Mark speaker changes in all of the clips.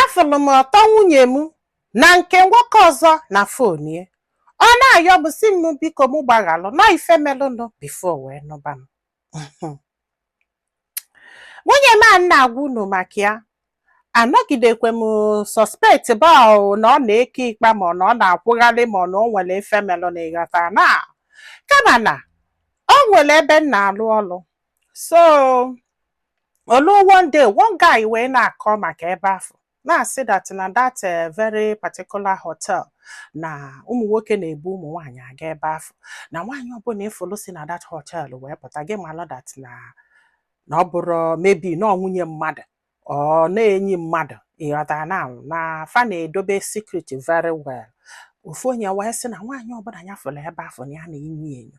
Speaker 1: afụrụ m ọtọ nwunye m na nke nwoke ọzọ na phone ya ọ na-ayọ m sị m biko m gbaghalụ na ọ ife melụnụ before wee nụba m nwunye m a m na-agwa unu maka ya anọgidekwe m suspect ba o na ọ na-eke ikpa ma ọ na ọ na-akwụgharị ma ọ na o nwere ife melụnụ ịghọta na kama na o nwere ebe m na-alụ ọlụ so o luo one day one guy wee na-akọ maka ebe afụ na-asị that na that eh, very particular hotel na ụmụ nwoke na-ebu ụmụ nwaanyị aga ebe afụ na nwaanyị ọbụla ịfụlụ si na that hotel wee pụta gị malụ that na na ọ bụrụ maybe na ọ nwunye mmadụ or na enyi mmadụ ịghọta na na fa na-edobe secret very well ofu onye wee sị na nwaanyị ọbụla ya fụrụ ebe afụ na ya na-enyo ya enyo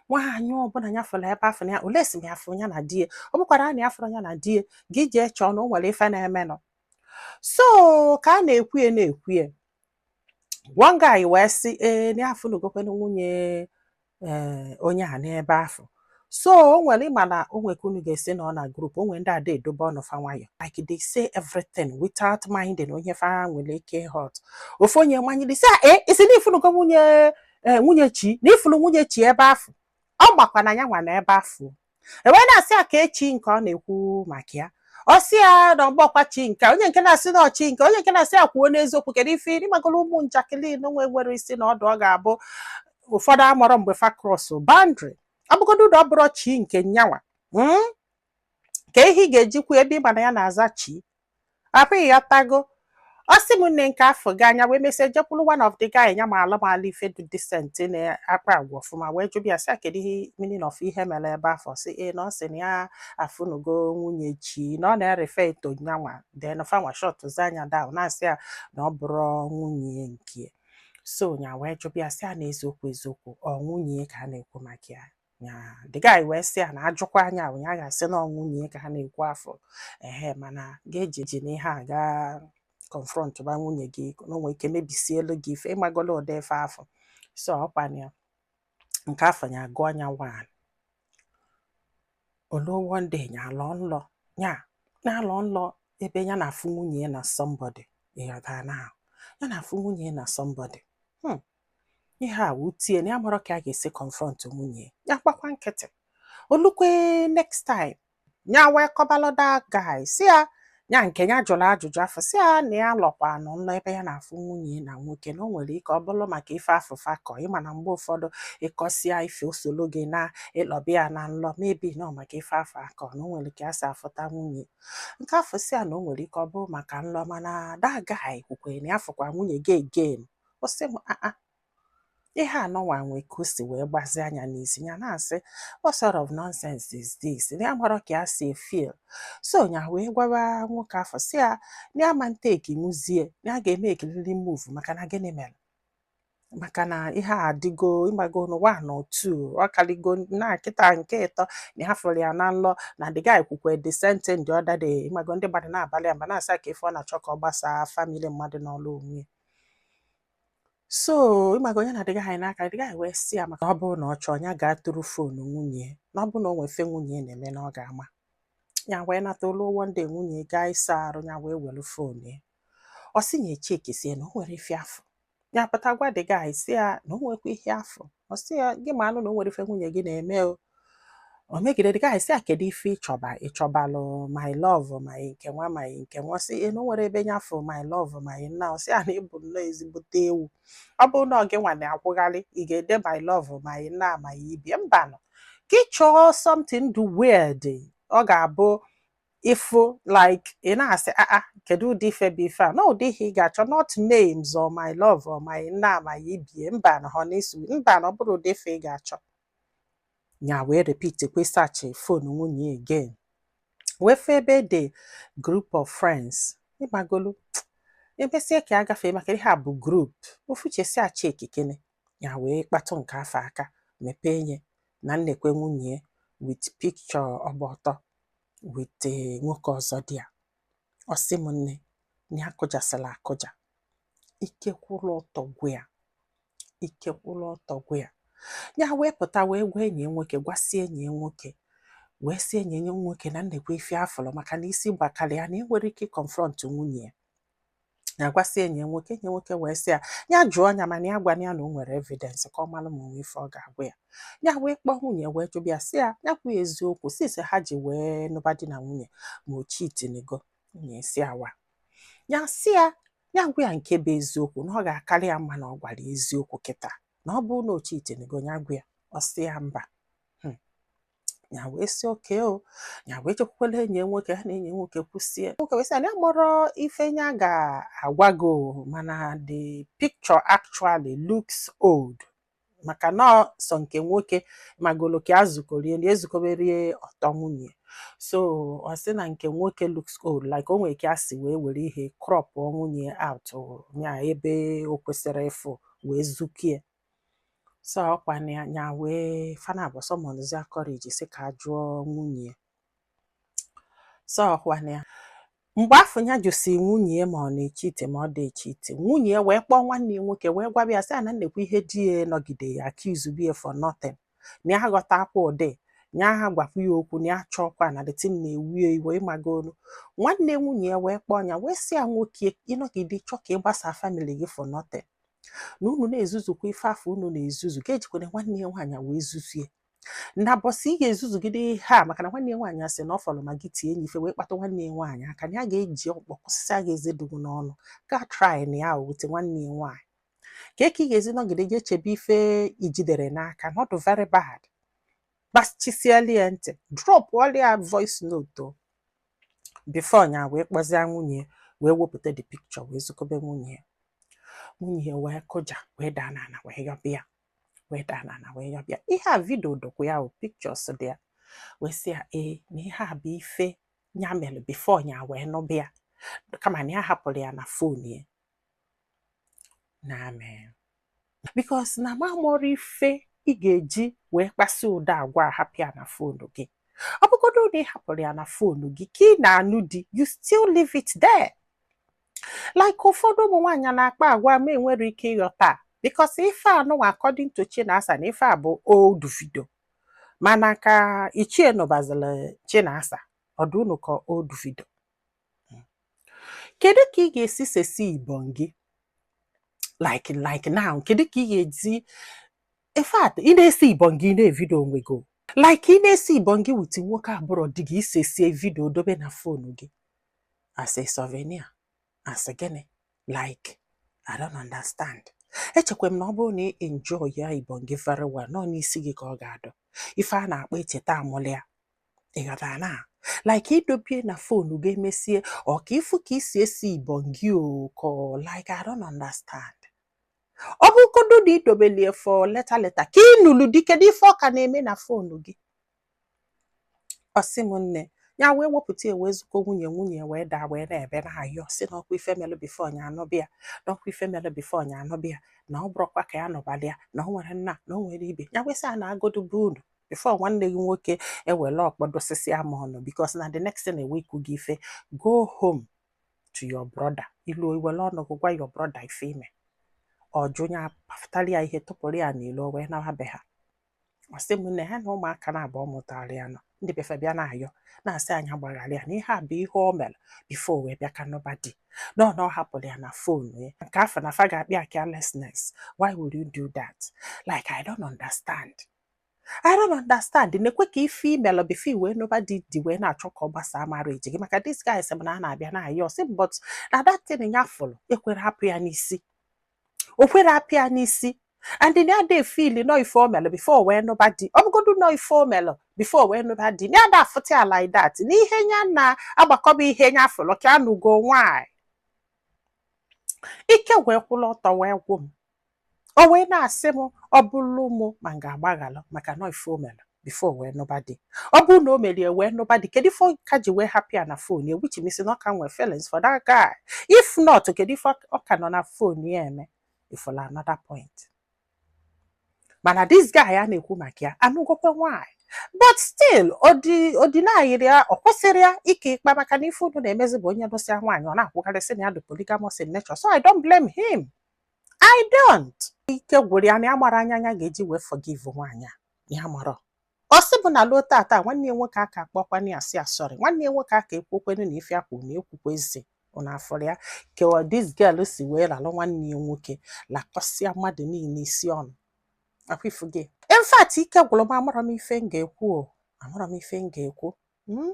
Speaker 1: nwaanyị ọbụla ya fụrụ ebe afụ na unless m ya fụ ya na di ya ọ bụkwara na ya fụrụ ya na di ya gị jee chọọ na o nwere ife na-emenụ so ka a na-ekwuye na-ekwuye one guy wee sị ee na ya afụnugokwa nwunye ee eh, onye a n'ebe afụ so o nwere ịma na o nwere ka unu ga-esi nọ na group o nwere ndị ada edobe ọnụ fa nwayọ like they say everything without minding onye fa nwere ike hurt ofu onye manyere sị e eh, ị sị na ị fụnugo nwunye eh, nwunye chi na ị fụlụ nwunye chi ebe afụ ọ makwa na nyanwa nọ ebe afụ e wee na-asị ya kee chi nke ọ na-ekwu maka ya ọ sị ya na ọ bụrọkwa chi nke onye nke na-asị na ọ chi nke onye nke na-asị ya kwuo n'eziokwu kedu ife ịmagola ụmụ njakịrị na-enwerọ isi na ọdụ ọ ga-abụ ụfọdụ amarọ mgbe fa cross boundary ọ bụgodu ọ bụrọ chi nke nyanwa hmm? kee ihe ị ga-eji kwuo ebe ị ma na ya na-aza chi apịghị ya tago ọ sị m na nke afụ gaa nya wee mesịa jekwuru one of the guy nya malụ malụ ife dị decent na-akpa agwa ọfụma wee jụbịa ya sị ya kedu the meaning of ihe mere ebe afụ sị ee na ọ sị na ya afụnugo nwunye chi na ọ na-erefer to nyanwa then fanwa shut zie nya down na-asị ya na ọ bụrọ nwunye nke so nya wee jụbịa sị ya na eziokwu eziokwu ọ nwunye ka a na-ekwu maka ya ya the guy wee sị ya na ajụkwaa nya ah ya ga-asị na ọ nwunye ka a na-ekwu afụ ehe mana gị ejina ihe a gaa confront ba nwunye gị na o nwee ike mebisielu gị ife ịmagola ụdị ife afụ so ọkwana ya nke afụ ya agụ anya one o luo one day ya alọ nlọ ya na-alọ nlọ ebe ya na-afụ nwunye ya na somebody ịghọta na ya na-afụ nwunye ya na somebody hmm. ihe a wutie nya amarọ ka a ga-esi confront nwunye ya gbakwa nkịtị o lukwe next time ya wee kọbalụ the guy sị ya ya nke ya jụrụ ajụjụ afụ sị ya na ya lọkwanụ nlọ ebe ya na-afụ nwunye na nwoke na o nwere ike ọ bụrụ maka ife afụ fa kọ ị ma na mgbe ụfọdụ ị kọsịa ife o solo gị naa ị lọba ya na nlọ maybe na ọ maka ife afụ a kọ na o nwere ike ya si afụta nwunye nke afụ sị ya na o nwere ike ọ bụrụ maka nlọ mana that guy kwukwere na ya fụkwa nwunye gị again ọ sị m aa ihe anụnwa nwe ka o si wee gbazịa nya n'isi ya na-asị what sort of nonsense is this nya amarọ ka ya si feel so ya wee gwaba nwoke afụ sị ya na ya ama take nwuzie na ya ga-emakeriri move maka na gịnị mere maka na ihe a adịgo ị mago n'ụwa na otu ọ kalịgo na kịta nke ịtọ na ha fụrụ ya na nlọ na the guy kwukwe the same thing the other day ị mago ndị mmadụ na-abalị ya mba na-asị ya kee ife ọ na-achọ ka ọ gbasaa famili mmadụ nọlụ onwe ya so ị mago onye na the guy n'aka the guy wee sị ya maka ọ bụrụ na ọ chọọ ya gaa tụrụ foonu nwunye na ọ bụrụ na o nwe ife nwunye na-eme na ọ ga-ama ya wee nata o lu one day nwunye gaa ịsa arụ ya wee were foonu ya ọ sị ya echekisie na o nwerọ ife ya fụ ya pụta gwa the guy sị ya na o nwekwa ihe ya fụ ọ sị ya gị manụ na o nwerọ ife nwunye gị na-eme o o megide the guy sị ya kedu ife ị chọba ị chọbalụ my love my nke nwa my nke nwa sị ya na o nwerọ ebe nya fụ my love my nna ọ sị ya na ị bụ nnọọ ezigbote ewu ọ bụrụ na ọ gị nwa na-akwụgharị ị ga-ede my love my nna my ibie mbanụ gị chọọ something dị weird ọ ga-abụ ị fụ like ị na-asị aa ah, ah, kedu ụdị ife bụ ife a na ụdị ihe ị ga-achọ not names or my love or my nna my ibie mba na honey sweet mba na ọ bụrọ ụdị ife ị ga-achọ ya wee repeat kwa search phone nwunye again wee fụ ebe e de group of friends ị mago o lue mesie ka ya gafee maka ihe a bụ group ofu uche sị ya chekikene ya wee kpatụ nke afụ aka mepee nye na nekwe nwunye with picture ọ gba ọtọ with eh, nwoke ọzọ dị ya ọ sị m nne na ya kụjasịla akụja ike kwụrụ ọtọ gwụ ya ike kwụrụ ọtọ gwụ ya ya wee pụta wee gwa enyi ya nwoke gwasị enyi ya nwoke wee sị enyi ya nwoke na nekwe ife ya fụrụ maka na isi gbakara ya nya enwerọ ike ịconfront nwunye ya ya gwasị enyi ya nwoke enyi ya nwoke wee sị ya ya jụọ ya mana ya gwana ya na o nwere evidence ka ọ mara ma o nwe ife ọ ga-agwa ya ya wee kpọọ nwunye wee jụba ya sị ya ya kwuo eziokwu since ha ji wee nụba di na nwunye ma o chitinigo nwunye esi awa ya sị ya ya gwa ya nke bụ eziokwu na ọ ga-akarị ya mma na ọ gwara eziokwu kịta na ọ bụrụ na o chitinigo ya gwa ya ọ sị ya mba ya wee sị okay o ya wee jekwukwala enyi nwoke ha na enyi nwoke kwusie nwoke wee sị na ya amarọ ife ya ga-agwa gị mana the picture actually looks old maka na sọ nke nwoke magolo ka e zukorie na ezukoberie ọtọ nwunye so ọ sị na nke nwoke looks old like o nwere ka e si wee were ihe crop nwunye out na ebe o kwesịrị ịfụ wee zukie so ọkwa na ya nya wee fana abụọ summonzia courage sị ka a jụọ nwunye ya so ọkwa na ya mgbe afụ ya jụsị nwunye ya ma ọ na-echeat ma ọ dị echeat nwunye ya wee kpọọ nwanne ya nwoke wee gwaba ya sị ya na nekwa ihe di ya nọgide accuse bie for nothing na ya aghọtakwa ụdị na ya gwakwa ya okwu na ya chọọkwa na the thing na-ewie iwe ị magonu nwanne nwunye ya wee kpọọ ya wee sị ya nwoke ị nọgide chọọ ka ị gbasa family gị for nothing na unu na-ezuzukwa ife afụ unu na-ezuzu gị ejikwana nwanne ya nwaanyị wee zuzie na mbọsị ị ga-ezuzugide ihe a maka na nwanne ya nwaanyị asị na ọ fọrọ ma gị tie nya ife wee kpata nwanne ya nwaanyị aka na ya ga-eji ọkpọ kụsịsịa gị eze dị gị n'ọnụ gị try na ya wute nwanne ya nwaanyị kee ka ị ga-esi nọgide je echebe ife i jidere n'aka na ọ dụ very bad gbachisiela ya ntị dropụlịa voice note before nya wee kpọzie nwunye ya wee wepụta the picture wee zukobe nwunye ya nwunye ya wee kụja wee daa n'ala wee yọbịa wee daa n'ala wee yọbịa ihe a video dụkwu ya o pictures dị ya wee sị ya ee na ihe a bụ ife ya mere before nya wee nụbịa kama na ya hapụrụ ya na fon ya na I mean because na m amarọ ife ị ga-eji wee kpasị ụdị agwa hapụ ya na fonu gị ọ bụgodo na ị hapụrụ ya na fonu gị ka ị na-anụ di you still leave it there like ụfọdụ ụmụ nwaanyị na-akpa agwa m enwerọ ike ịghọta because ife anụnwa according to Chinasa na ife a bụ old video mana ka ichie nụbazila Chinasa ọ dụ unu ka old video kedu ka ị ga-esi sesi ibon gị like like now kedu ka ị ga-esi in fact ị na-esi ibon gị na-evideo onwe gị like ị na-esi ibon gị with nwoke abụrọ di gị i sesie video dobe na fonu gị as a souvenir as gịnị like I don't understand echekwa m na ọ bụrụ na ị enjoy ya ibon gị very well na ọ n'isi gị ka ọ ga-adọ ife a na-akpọ echeta amụlịa ị ghọtara na like i dobie na fonu gị emesie ọ ka ị fụ ka i si esi ibon gị oko like I don't understand ọ bụrụgodu na i dobelie for later later ka ị nụrụ di kedu ife ọ ka na-eme na fonu gị ọ sị m nne ya wee wepụta ya wee zuko nwunye nwunye wee daa wee na-ebe na-ayọ sị na ọkwa ife melụ before nya anụbịa na ọkwa ife melụ before nya anụbịa na ọ bụrụkwa ka ya nụbalịa na ọ nwere nna na ọ nwere ibe ya wee sị ya naagodu be unu before nwanne gị nwoke ewere ọkpọ dosisia m ọnụ because na the next thing e wee kụ gị ife go home to your brother i luo i were ọnụ gị gwa your brother ife i mere ọjụ ya pụtara ya ihe tụpụrụ ya n'ilo wee nawa be ha ọ sị m na ha na ụmụaka naabọ ọ mụtara ya na ndị be fa bịa na-ayọ na-asị nya gbaghara ya na ihe a bụ ihe o mere before wee bịa ka nụba di nọ na ọ hapụrụ ya na phone ya nke afụ na fa ga-akpọ ya carelessness why would you do that like i don't understand I don't understand na-ekwe ka ife i melụ before i wee nụba di di wee na-achọ ka ọ gbasaa marriage gị maka this guy sị m na a na-abịa na-ayọ sị m but na that thing ya fụrụ ekwerọ apụ ya n'isi o kwerọ apụ ya n'isi and na ada e-feel na ọ ife o melụ before wee nụba di ọ bụgodu na ọ ife o melụ before wee nụba di na ada afụta ya like that na ihe ya na-agbakọba ihe ya fụrụ ka anụgo nwaanyị ike wee kwụrụ ọtọ wee gwụ m o wee na-asị m ọ bụrụ m ma m ga-agbaghalụ maka na ife o mere before wee nụba di ọ bụrụ na o merie wee nụba di kedu ife ọ ka ji wee hapụ ya na phone ya which means na ọ ka nwee feelings for that guy if not kedu ife ọ- ọ ka nọ na phone ya eme ị fụla another point mana this guy a na-ekwu maka ya anụgokwa nwaanyị but still odi- odinayiri ya ọ kwụsịrị ya ike ịkpa maka na ife unu na-emezi bụ onye nụsịa nwaanyị ọ na-akwụgharị sị na ya dị polygamous in nature so I don't blame him I don't. Ike gwụrụ ya na ya amarọ anya nya ga-eji wee forgive nwaanyị a ya amarọ. Ọ sị bụ na luo taata nwanne ya nwoke aka akpọkwana ya sị ya sorry nwanne ya nwoke aka ekwukwanụ na ife akwụ na ekwukwa ezi unu afụrọ ya kewa this girl si wee ralụ nwanne ya nwoke lakọsịa mmadụ niile isi ọnụ ọ kwa ị fụgo. In fact ike gwụrụ m amarọ m ife m ga-ekwu o amarọ m ife m ga-ekwu. Hmm?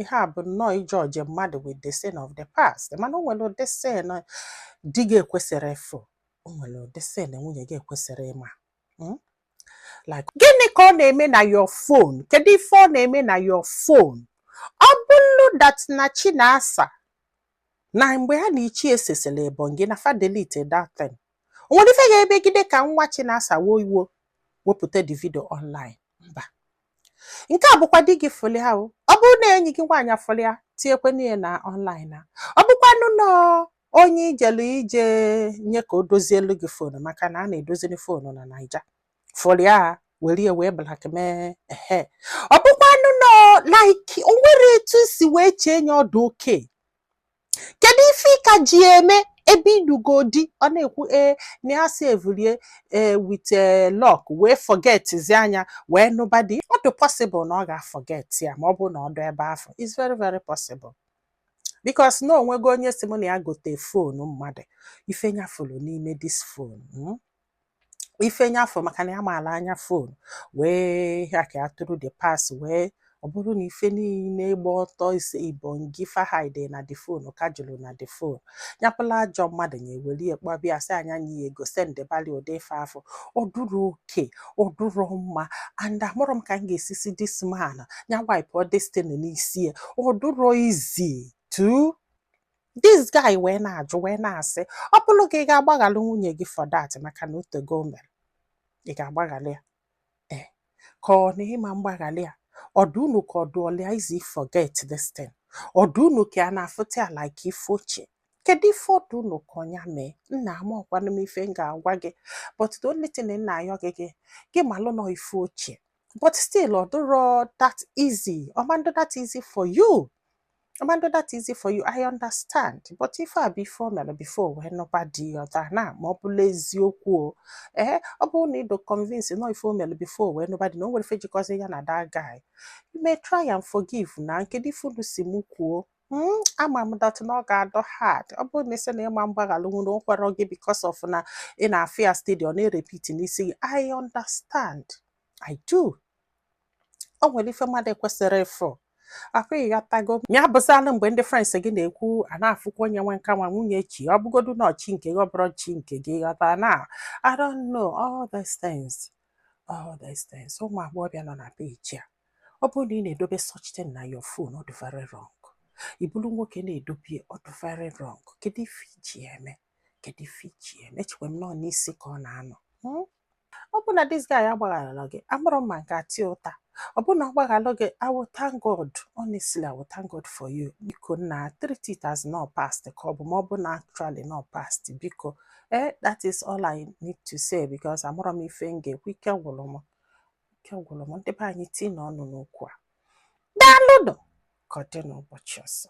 Speaker 1: ihe a bụ nnọọ ị judge mmadụ with the sin of the past mana o nwere ụdị sin di gị ekwesịrọ ịfụ o nwere ụdị sin nwunye gị ekwesịrọ ịma hmm? like gịnị ka ọ na-eme na your phone kedu ife ọ na-eme na your phone ọ bụrụ that na Chinasa na mgbe ha na ichie sesịrị ebonyi na fa delete that thing o nwere ife ga-emegide ka nwa Chinasa wo iwo wepụta the video online mba nke a bụkwa di gị fụlụ ya o ọ bụrụ na enyi gị nwaanyị a fụlụ ya tinyekwa n'ihe na online na ọ bụkwanụ na onye i jelu ije nye ka o dozielu gị fonu maka na a na-edoziri fonu na Naija fụrụ ya were ya wee blackmail ehe ọ bụkwanụ na like o nwere etu si wee chee nye ọ dụ okay kedu ife ị ka ji eme ebe ị nụgo di ọ na-ekwu ee na ya save-lụ ya with lock wee forget-zie nya wee nụba di ọ dị possible na ọ ga-aforget ya ma ọ bụ na ọ dụ ebe afụ it's very very possible because na o nwego onye si mụ na ya gote fonu mmadụ ife nya fụrụ n'ime this fonu hmm? ife nya fụ maka na ya maala anya phone wee ya ka ya tụrụ the pass wee ọ bụrụ na ife niile gba ọtọ ise ibongi fa hide na the phone ka juru na the phone nya bụlụ ajọ mmadụ nya were ya kpọ bịa sị a nye nya ego sendebali ụdị ife afụ ọ dụrọ okay ọ dụrọ mma and amarọ m ka m ga-esi si this man ya wepụ this thing n'isi ya ọ dụrọ easy to this guy wee na-ajụ wee na-asị ọ bụrụ gị ị ga-agbaghalụ nwunye gị for that maka na o teego o mere ị ga-agbaghalị ya ee eh, ka ọ na ị ma mgbaghalị ya ọ dụ unu ka ọ dụlụ ya easy forget this thing ọ dụ unu ka ọ na-afụta ya like ife ochie kedu ife ọ dụ unu ka nya mee nna amarọkwanụ m ife m ga-agwa gị but the only thing m na-ayọ gị gị gị malụ na ọ ife ochie but still ọ dịrọ that easy ọ ma ndụ that easy for you ọ ma ndụ that easy for you I understand but ife a bụ ife o mere before wee nụba di ị ghọta na ma ọ bụlụ eziokwu o ee ọ bụrụ na ị dụ convince na ọ ife o mere before wee nụba di na o nwere ife jikọzi ya na that guy you may try and forgive nna kedu ife unu sị mụ kwuo Hmm, ama m that na ọ ga-adụ hard ọ bụrụ na ị sị na ị ma mgbaghalụ na o kwerọ gị because of na ị na-afụ ya steady ọ na-erepeat n'isi gị I understand I do o nwere ife mmadụ ekwesịrọ ịfụ afụ ị ghọtago ya bụzalụ mgbe ndị friends gị na-ekwu a na-afụkwa onye nwe nke a nwa nwunye chi ọ bụgodu na ọ chi nke gị ọ bụrụ chi nke gị ghọta na I don't know all these things all these things ụmụ agbọghọbịa nọ na page a ọ bụrụ na ị na-edobe such thing na your phone ọ dị very wrong ị bụrụ nwoke na-edobe ọ dị very wrong kedu ife i ji ya eme kedu ife i ji ya eme echekwa m na ọ n'isi ka ọ na-anọ hmm? ọ bụ na this guy agbaghalọ gị amarọ m ma m ga-ata ya ụta ọ bụ na ọ gbaghalụ gị I will thank God honestly I will thank God for you biko nna treat it as na ọ past ka ọ bụ ma ọ bụ na actually na ọ past biko eh that is all I need to say because amarọ m ife m ga-ekwu ike gwụrụ m ike gwụrụ m ndị be anyị tinye ọnụ n'okwu a daalụnụ ka ọ dị n'ụbọchị ọzọ